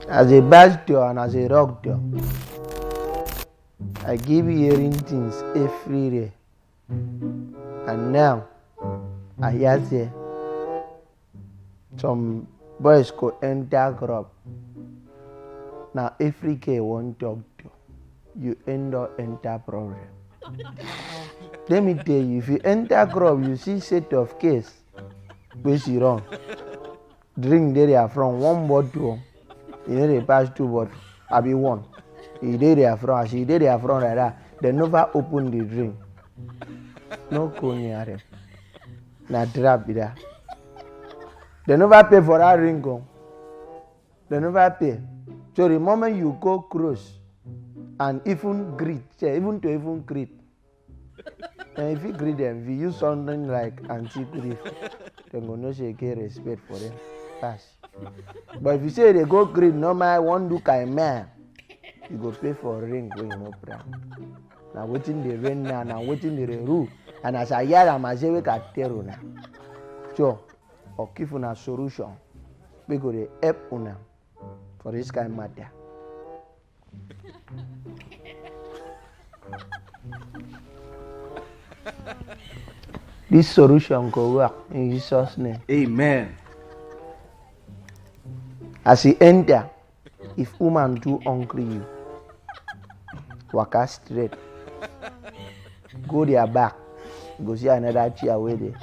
As a bad girl and as a rock girl, I give you hearing things everywhere. And now, I hear say some boys go enter club. Now every girl wan talk to you end up enter problem. Let me tell you, if you enter club, you see set of case wey she run. drink dey their front one bottle o e no dey pass two bottle abi one e dey their front as e dey their front like that dem never open the drink no go near them na trap be that dem never pay for that ring o dem never pay so the moment you go close and even greet sef even to even greet and if you greet them, if you use something like antique grief, they go no say get respect for them. Pass. But if you say they go greet normal one look I man, you go pay for ring when you no pray. Now waiting the rain now, now waiting the rule. And as I hear am, I say we can tell you now. So, or give una solution. We go dey help una for this kind matter. This solution go work in Jesus' name. Amen. As he enter, if woman do hungry you, waka straight. Go their back. You go see another chair wey dey.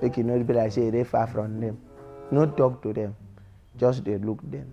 Make you no be like say you dey far from them. No talk to them. Just dey look them.